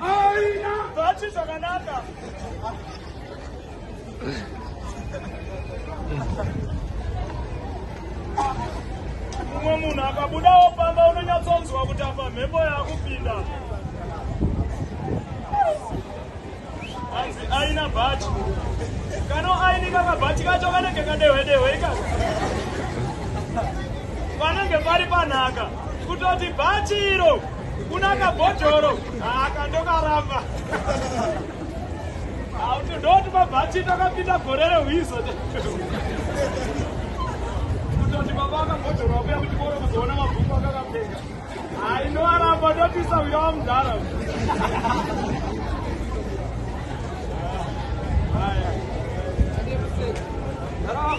Aina bhachi zvakanaka. Mumwe munhu akabudawo pamba unonyatsonzwa kuti apa mhepo yakupinda. Hanzi aina bhachi. Kano aini kakabhachi kacho kanenge kadehwe dehwe ikaka. Panenge pari panaka kutoti bhachi iro Kunaka bhodhoro akandokaramba. Auti ndoti mabhati takapinda gore rehwizo. Kutoti baba akabhodhoro wakuya kuti koro kuzoona mabhuku akakapfeka. Ainoaramba ndopisa uya wamudhara. Haya. Haya.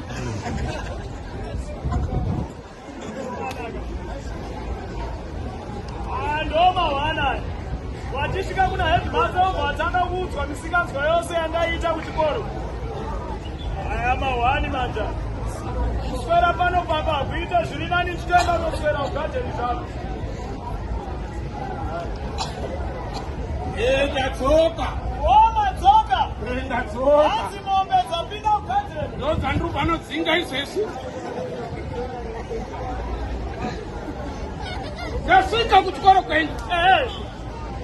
vachisvika kuna headmaster uko vatanga kuudzwa misikanzwa yose yandaiita kuchikoro aya mahwani manja kuswera pano papa hakuita zviri nani chitoenda unoswera kugadheni zvako ndadzoka omadzoka ndadzoka Mombe dzapinda mugadheni. Ndodzandiri vanodzinga izvezvi. Ndasvika kuchikoro kwenyu. Eh.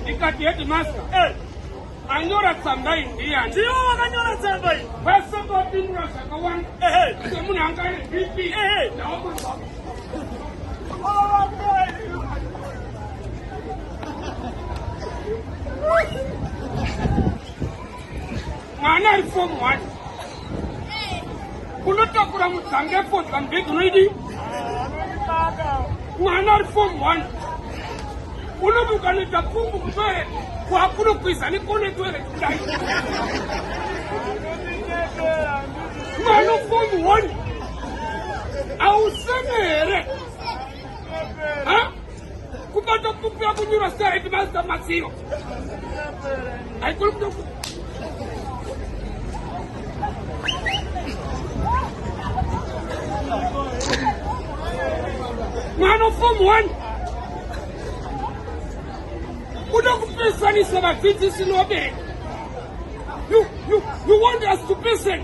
Ndikati headmaster. Eh. Anyora tsamba iyi ndiyani? Ndiwo wakanyora tsamba iyi. Vese vapindura zvakawanda. Eh. Semunhu anga ane BP. Eh. Ndaomba. Oh, mwana ari form one unotakura mudzange fodya mubhedhi unoidi mwana ari form one unomuka noita pumbu kutoere kwakunokwiza nekone toere kudai mwana form one auseme here kubatokupira kunyura star headmaster matsiro haikuli kuda mwana ufomu 1 kuda kupesanisa vadzidzisi nobereka you, you, you want us to person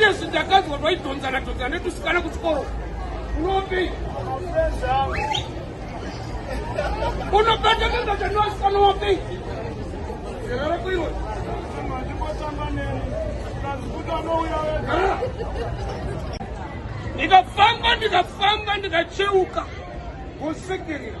Yes, ndakanzwa twaidhonzana dhonzana netusikana kuchikoro unopi unobata kangata noasikana wapi zera rako iwe ndikafamba ndikafamba ndikacheuka kusekerera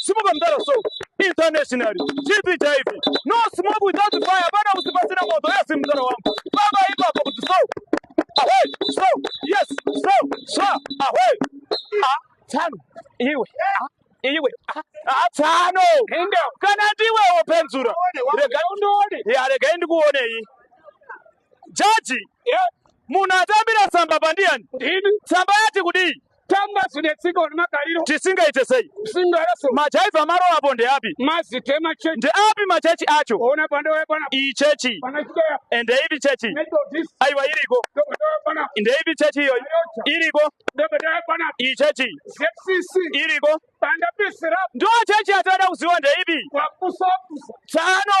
simuka mdara so internationally chipi chaipi no smoke without fire hapana kuti pasina moto yes mdara wangu baba ipapo kuti so away so yes so so away ah tsano iwe ah iwe ah, ah tsano kana ndiwe wopenzura rega undione ya rega ndikuonei Jaji, yeah. munhu atambira tsamba pandiyani? Ndini. Tsamba yati kudii? Tamba zvine tsika uri magariro. Tisingaite sei? Singareso. Majaiva maro apo ndeapi? Mazite machechi. Ndeapi machechi acho? Ona pande wae pana. Iyi chechi. Pana chikoya. Ende ipi chechi? Neto this. Aiwa iriko. Ndobe ndobe pana. Ende ipi chechi iyo? Iriko. Ndobe ndobe pana. Iyi chechi. ZCC. Iriko. Panda pisi rap. Ndo chechi atada kuziwa ndeipi? Wakusa kusa. Tsano.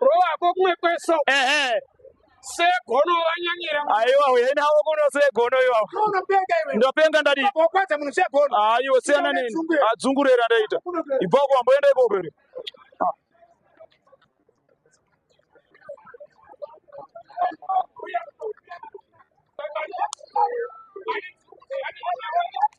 Rova ko kumwe kweso. Ehe. Segono wanyanyira. Aiwa uye nawo kuno segono iwa. Unopenga iwe. Ndopenga ndadi. Kokwadza munhu segono. Aiwa siyana nini. Adzungurira ndaita. Ibva kwa mboenda ikoko iri. Thank you.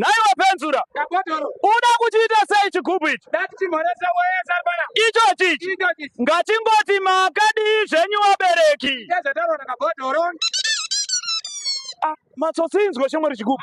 Nhai wapenzura, uda kuchiita sei chigubhu ichi? Ichochi ichi ngatingoti makadii zvenyu vabereki? Ah, matsotsi inzwa chimwe richigubhu.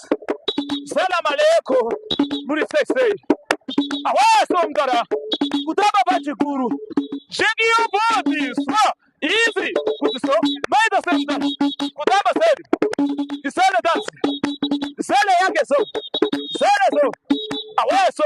Salam alaikum. Muri sexy. Awaya somgara. Kutamba pachikuru. Shake your body. So easy. Kuti so. Mai the same dance. Kutamba same. Isele dance. Isele yake so. Isele so. Awaya so.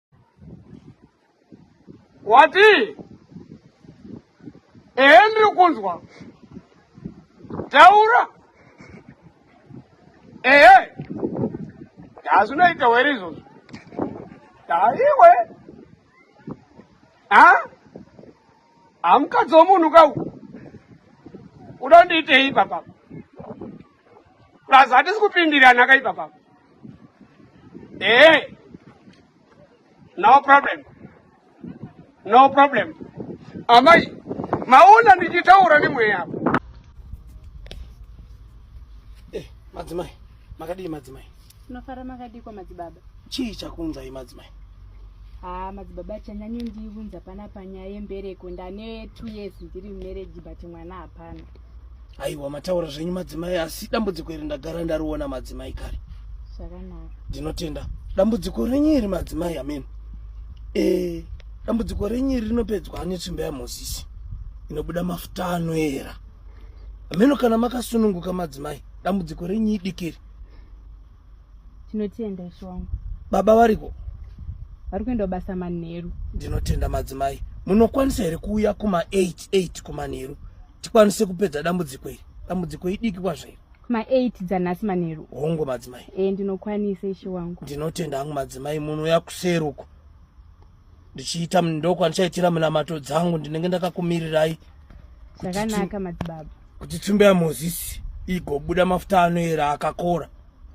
wati ehe ndiri kunzwa taura ehe hazvinoita were izvozvo daiwe ha Hamukadzi womunhu ka uyu. Uda kundiitei ipapa? Plus hatisi kupindirana ka ipapa. Eh. No problem. No problem. Amai, maona ndichitaura nemweya apa. Eh, madzimai. Makadii madzimai? Tinofara makadiko madzibaba. Chii chakunza imadzimai? Ah, madzibaba chanyanyo ndivunza pana panyaya yembereko ndane 2 years ndiri marriage but mwana hapana. Aiwa mataura zvenyu madzimai asi dambudziko iri ndagara ndariona madzimai kare. Zvakanaka. Ndinotenda. Dambudziko renyu iri madzimai amen. Eh, dambudziko renyu iri rinopedzwa netsvimbo yaMozisi inobuda mafuta anoera. Ameno kana makasununguka madzimai dambudziko renyu idikiri. tinotenda ishe wangu baba variko vari kuenda kubasa manheru ndinotenda madzimai munokwanisa here kuuya kuma 88 kumanheru tikwanise kupedza dambudziko iri dambudziko idiki kwazvairi kuma 8 dzanhasi manheru hongu madzimai e ndinokwanisa ishe wangu ndinotenda hangu madzimai munouya kuseruko ndichiita mndokwa ndichaitira minamato dzangu ndinenge ndakakumirirai zvakanaka madzibaba kuti tsvimbo yamozisi igobuda mafuta anoera akakora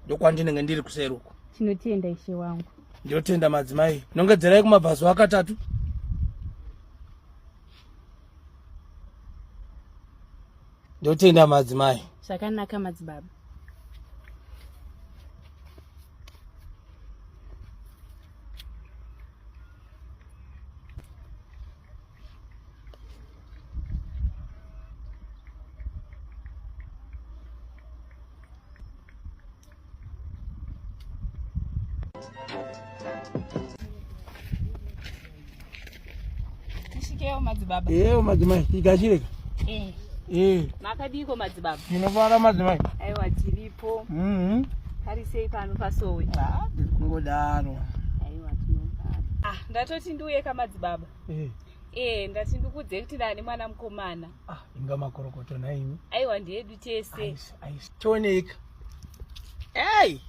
ndokwandinenge ndiri kuseruko tinotenda ishe wangu ndinotenda madzimai nongedzerai kumabvazuva akatatu ndotenda madzimai zvakanaka madzibaba Tishikewo madzibaba. Eyo madzimai tikachireka. Eh. Eh. Makadiko madzibaba. Tinofara madzimai. Aiwa tiripo. Mhm. Hari sei pano pasowe? Ah, kungodaro. Aiwa tinofara. Ah, ndatoti ndiuye ka madzibaba. Eh. Eh, ndati ndikudze kuti ndani mwana mukomana. Ah, inga makorokoto naimi. Aiwa ndiyedu tese. Aisi, aisi. Tioneka. Hey!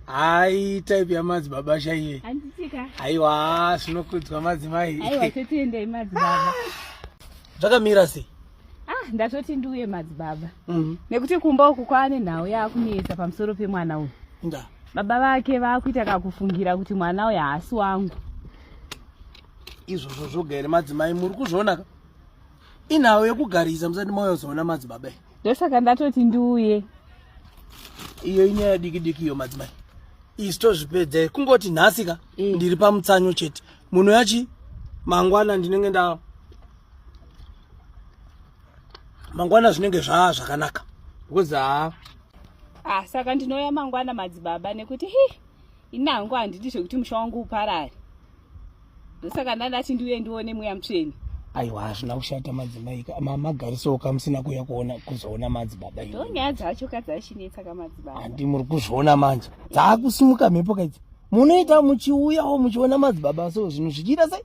Hai type ya madzi baba shaiye. Anditika. Aiwa zvinokudzwa madzi mai. Aiwa totienda imadzi baba. Zvakamira sei? Ah, ndatoti ndiuye madzi baba. Mhm. Mm Nekuti kumba uku kwaane nhau yakunetsa pamusoro pemwana uyu. Nda. Baba vake vakuita kakufungira kuti mwana uyu haasi wangu. Izvozvo zvoga here madzimai muri kuzviona ka? inhawo yekugarisa musati mayozoona madzibaba ndosaka ndatoti ndiuye iyo inyaya diki diki iyo madzimai isi tozvipedza kungoti nhasi ka eh. ndiri pamutsanyo chete munhu yachi mangwana ndinenge nda mangwana zvinenge zvaa zvakanaka because haa ah, saka ndinouya mangwana madzibaba nekuti hi ini hangu handidi zvekuti musha wangu uparare ndosaka ndandati ndiuye ndione mweya mutsveni aiwa hazvina kushata madzimai mamagarisawo kamusina kuuya kuona kuzoona madzibaba ndonyaya dzacho kadzashinetsa kamadzibaba handi muri kuzviona manje dzaakusimuka mhepo kaidzi munoita muchiuyawo muchiona madzibaba so zvinhu zvichiita sei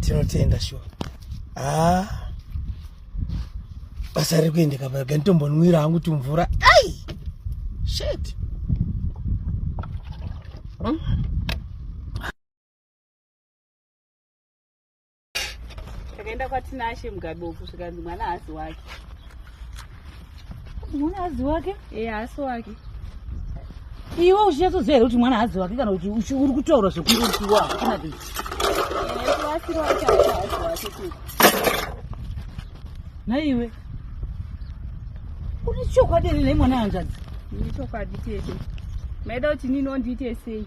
tinotenda shuwa haa basa riri kuendeka paga nditombonwira hangu tumvura ai shet hmm? takaenda kwatinashe mugabe uku zvikanzi mwana haasi wake mwana hadzi wake e haasi wake iwe uchinyatsoziva here kuti mwana hadzi wake kana kuti uri kutaura zvekunge uchiwa hakuna ti naiwe une chokwadi here nei mwana yanzvadzi ini chokwadi tete maida kuti nini ondiite sei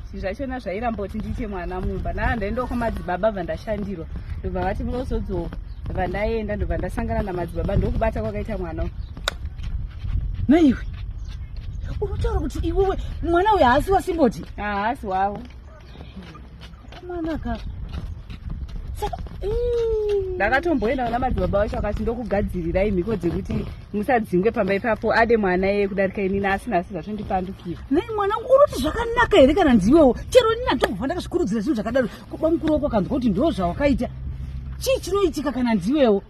zvi zvachona zvairamboti ndiite mwana mumba naa ndaenda uko madzibaba bva ndashandirwa ndobva vati munozodzoo bva ndaenda ndobva ndasangana namadzibaba ndokubata kwakaita mwana u naiwe unotaura kuti iwewe mwana uyo haasi wasimboti haasi wavo mwanaka ndakatomboenda kuna madzibaba vacho akati ndokugadzirirai mhiko dzekuti musadzingwe pamba ipapo ade mwana yeye kudarika inini asina asi zvazvindipandukira nei mwana wangu unoti zvakanaka here kana nziwewo chero inini anditokubva ndakazvikurudzira zvinhu zvakadaro kuba mukuru wako akanzwa kuti ndo zvawakaita chii chinoitika kana nziwewo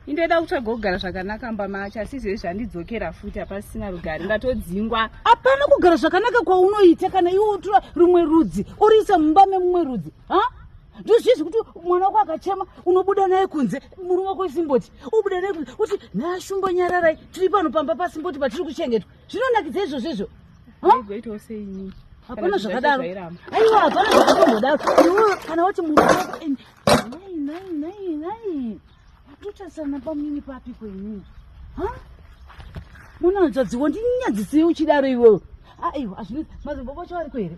indoda kutsvaga kugara zvakanaka mba macho asi izvezvi zvandidzokera futi hapasisina rugare ndatodzingwa hapana kugara zvakanaka kwaunoita kana iwe utura rumwe rudzi uriisa mumba memumwe rudzi ha ndozvizvi kuti mwana wako akachema unobuda naye kunze murume wako isimboti ubude nei kuti nashumbo nyararai tiri pano pamba pasimboti patiri kuchengetwa zvinonakidza izvozvo izvo goitawo seinii hapana zvakadaro aiwa hapana zvakatomhodaro iwo kana wati munhu wako and nai nai nai nai watotarisana pamini papi kwenyu ha munonzwa dziwo ndinyadzisei uchidaro iwewe aiwa azvinozi mazimbobo chawariko here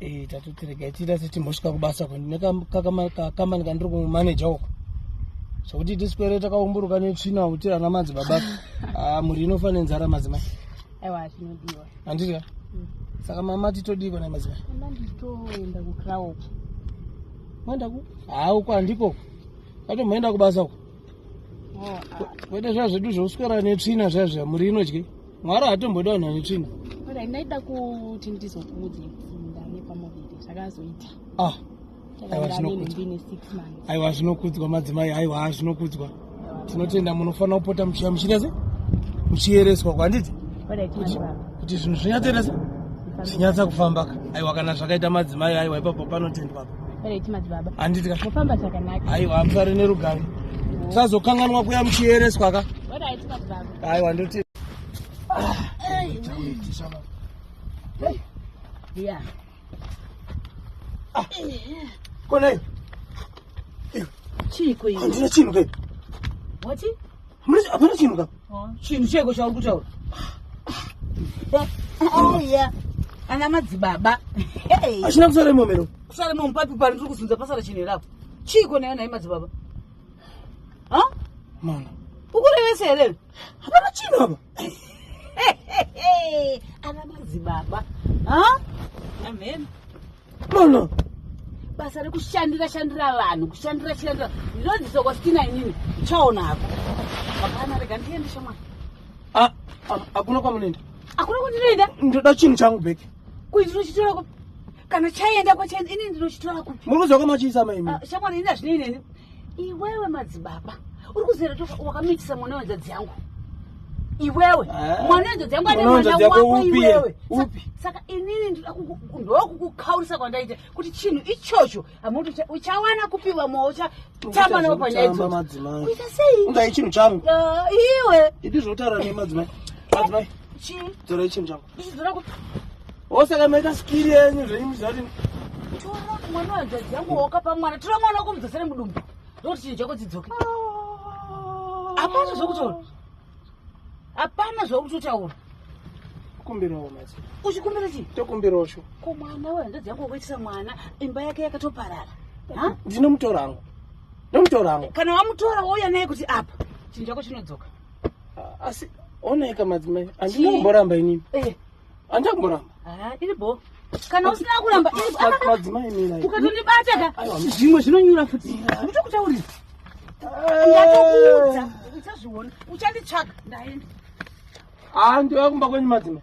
Eh, tatoti regai tiita setimhosvika kubasa kwendine kakamani kandiri kumaneja uko zvokuti tiswere takaumburuka netsvina kuti ana madzi baba ah, mhuri inofanira nzara madzimai aiwa zvinodiwa handidya mm. saka mama titodiiko nai madzimai ndanditoenda kucrao moenda ku haa uko handiko ato moenda kubasa uko oh, ah. kwete zva zvedu zvouswera netsvina zvazva mhuri inodyei mwari hatomboda vanhu vane tsvina orai ndaida kuti ndizokuudze ndave pamuviri zvakazoita ah aiwa zvinokudzwa madzimai aiwa ha zvinokudzwa tinotenda munofanira kupota muchiya muchiita se muchiyereswa kwanditi kuti zvinhu zvinyatsoita se zvinyatsa kufambaka aiwa kana zvakaita madzimai aiwa ipapo panotendwapa handiti ka aiwa musare nerugare tisazokanganwa kuya muchiyereswa ka aiwa ndoti konai chiiko iwe handina chinhu kai wati hapana chinhu ka chinhu cheiko chauri kutaura aiya ana madzibaba achina kusara imomero kusara imomo papi pari tiri kuzunza pasara chinhu herapo chiiko nayo nai madzibaba ha mwana ukurevesa here hapana chino apa ana madzibaba ha amen mwana basa rekushandira shandira vanhu kushandira shandira ndinodzidzisa kwasitina inini chaona hako hapana rega ndiende shamwana hakuna kwamunoenda hakuna kwandinoenda ndoda chinhu changu bheki kuitira chitorako kana chaenda kwachaenda ini ndinochitora kupi muri kuziva kwamachiisa maimi ah, shamwari ini hazvinei neni iwewe madzibaba uri kuzera to wakamitisa mwana wenzadzi yangu iwewe ah. mwana wenzadzi yangu ane mwana wako iwewe saka inini ndokukukaurisa kwandaita kuti chinhu ichocho amuti uchawana kupi vamwe uchatamba navo panyaya idzoita sei undai chinhu changu ah, iwe iti zvotaura nemadzimai madzimai chii torai chinhu changu osaka maita skiri yenyu zvenyu zvati tora mwana wadzadzi yangu wakapa mwana tora mwana wako mudumbu ndokuti chinhu chako dzidzoke hapana zvokutaura hapana zvakutotaura kumbirawo mati uchikumbira chii tokumbirawo sho ko mwana we hanzvadzi yangu wakuitisa mwana imba yake yakatoparara ndinomutora hangu ndomutora hangu kana wamutora wouya naye kuti apa chinhu chako chinodzoka asi oneka madzimai andina kumboramba inini eh. andina kumboramba ah, iri bo kana usina kuramba madzimai mina ukatondibata ka zvimwe zvinonyura futi nditokutaurira eh. ndatokuudza uchazviona uchanditsvaga ndaenda haa ah, ndiva kumba kwenyu madzimai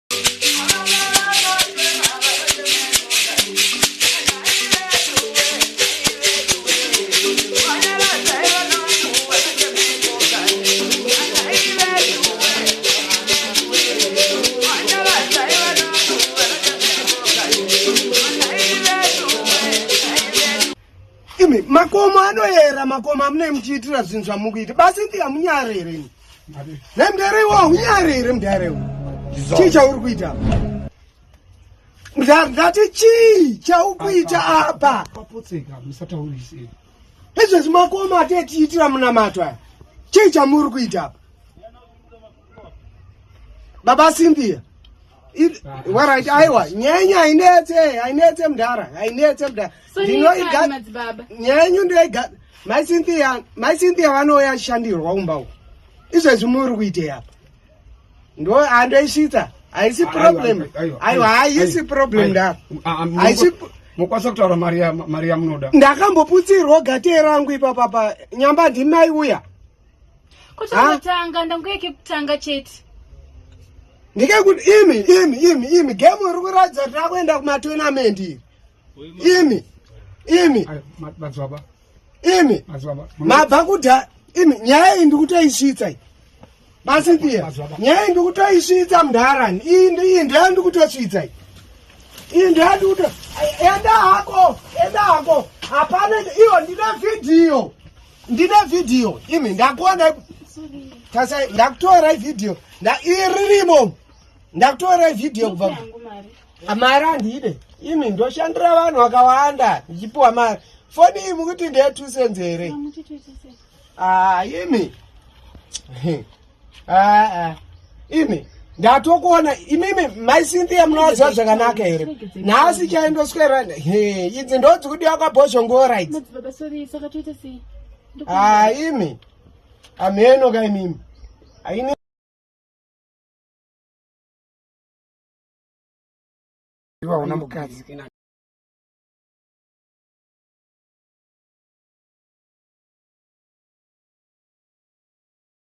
makomo anoyera makomo amunei muchiitira zvinhu zvamukuita basi ndiya munyarereni nemdariwo unyare here mdariwo chii chauri kuita ndati chii chaukuita apa izvezvi makoma atetiitira munamato aya chii chamuri kuita apa baba simbiya warit aiwa nyenyu hainetse hainetse mdara hainetse mdara ndinoiga nyenyu ndoiga mai cynthia mai cynthia vanouya achishandirwa umba uku izvezvi muri kuitei apa ndo handoisvitsa haisi problem aiwa haisi problem ndara haisi mokwanisa kutaura mari yamunoda ndakamboputsirwa gatee rangu ipapapa nyamba ndimai uya Kuchakutanga ndanguye kekutanga chete. Ndikekuti imi imi imi imi game iri kuratidza kuti akuenda kumatournament iri. Imi imi madzwaba imi madzwaba mabva kuda imi nyaya iyi ndikutoisvitsa iyi. Basi pia nyaya iyi ndikutoisvitsa mudharani iyi iyi ndaya ndikutosvitsa iyi. Iyi ndaya ndikuto enda hako enda hako hapana iyo ndine vhidhiyo. ndine vhidhiyo imi ndakuona tasai ndakutora ivhidhiyo iririmo ndakutora ivhidhiyo kubva mari handide imi ndoshandira vanhu vakawanda ndichipiwa mari foni iyi mukuti ndeye two cents here haa ah, imi aa imi ndatokuona imimi mai cynthia munovaziva zvakanaka here nhasi chaindoswera he idzi ndodzikudiwa kwabhozhongora idzi aa imi amheno ka imimi aine vaona mukadzi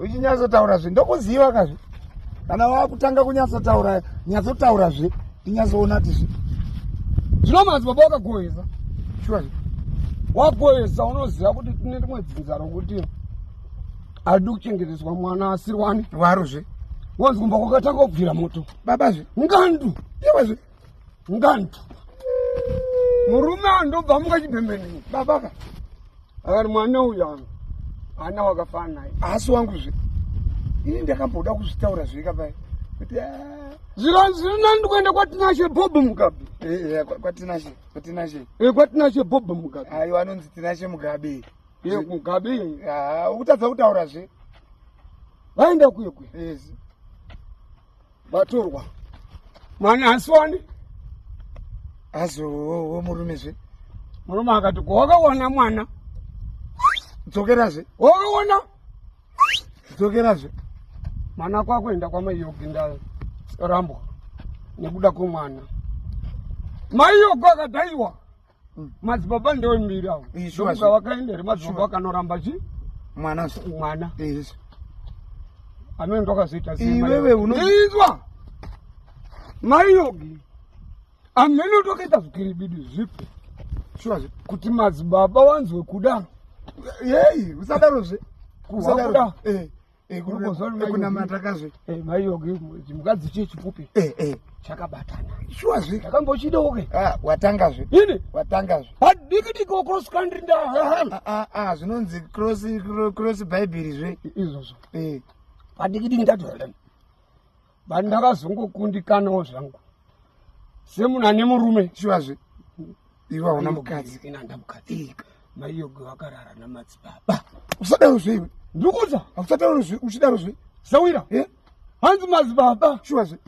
uchinyatsotaura zve ndokuziva kazve kana wakutanga kunyatsotaura nyatsotaura zve tinyatsoona ti zve zvino manzi baba wakagohesa shuwa zve wagohesa unoziva kuti tine rimwe dzinza rokuti Adu kuchengeteswa mwana asiri wani. Waro zve. Wanzi kumba kwakatanga kubvira moto. Baba zve. Ngandu. Iwe zve. Ngandu. Murume andobva muka chibhembeni. Baba ka. Akati mwana uyu anga. Ana wakafana naye. Asi wangu zve. Ini ndakamboda kuzvitaura zve kapai. Kuti ah. Zira zira nandu kuenda kwa Tinashe Bob Mugabe. Eh, eh kwa Tinashe. Kwa Tinashe. Eh, kwa Tinashe Bob Mugabe. Ayo anonzi Tinashe Mugabe. Mugabe ah, ukutadza kutaura zve vaenda kwekwe vatorwa mwana asiwani azowo murume zve murume akati ko wakawana mwana dzokera zve wakawana dzokera zve mwana kwakuenda kwamai yogi ndarambwa nekuda kwemwana mai yogi akadaiwa mm. madzibaba ndombiri avo ndokuga vakaenda here madzibaba vakanoramba chi mwana mwana amene ndokazoita iwewe unoizwa maiyogi amene ndokaita zvikiribidi zvipi shuwa kuti madzibaba wanzwe kuda yei usadarozve kuda eh. mukadzi chii chipupi eh, eh. chakabatana shuwa zve ndakambochidawo ke ah, watanga zve ini watanga zve hadiki diko cross country nda ah, ah, zvinonzi cross cross bible zve izvozvo eh. hadiki diki ndadwelen but ndakazongokundikanawo zvangu semunhu ane murume chivazve iwe hauna mukadzi ina ndamukadzi maiyoge wakarara namadzibaba usadaro zve iwe ndikuza akusadaro zve uchidaro zve sawira hanzi madzibaba chivazve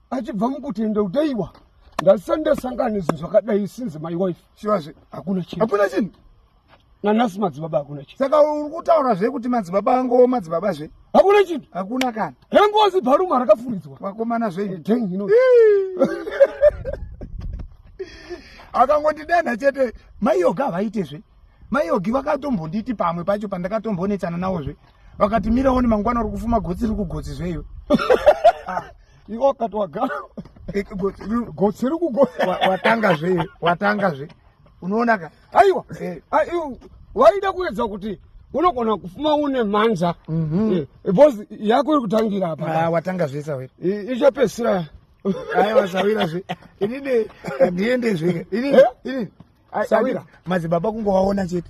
achibva mukutenda kudaiwa ndasandasangana zvinhu zvakadai sinzi my wife chivazve hakuna chinhu hakuna chinhu nanasi madzibaba hakuna chinhu saka uri kutaura zve kuti madzibaba angowo madzibaba zve hakuna chinhu hakuna kana hengozi bharuma rakafuridzwa vakomana zveino akangondidenha chete maiyoga havaite zve maiyogi vakatombonditi pamwe pacho pandakatombonetsana nawo zve vakati miraoni mangwana uri kufuma gotsi ri kugotsi zveiwe ah, iwo akati wagara eh, gotsi ri kugotsi watanga zveiwe watanga zve unoona ka aiwa eh. ah, waida kuedza kuti unogona kufuma une mhanza mhm. eh, because yako iri kutangira apa ah, watanga zvese awira ichapesira aiwa sawira zve inini ndiende zve inini eh? inini sawira madzibaba kungovaona chete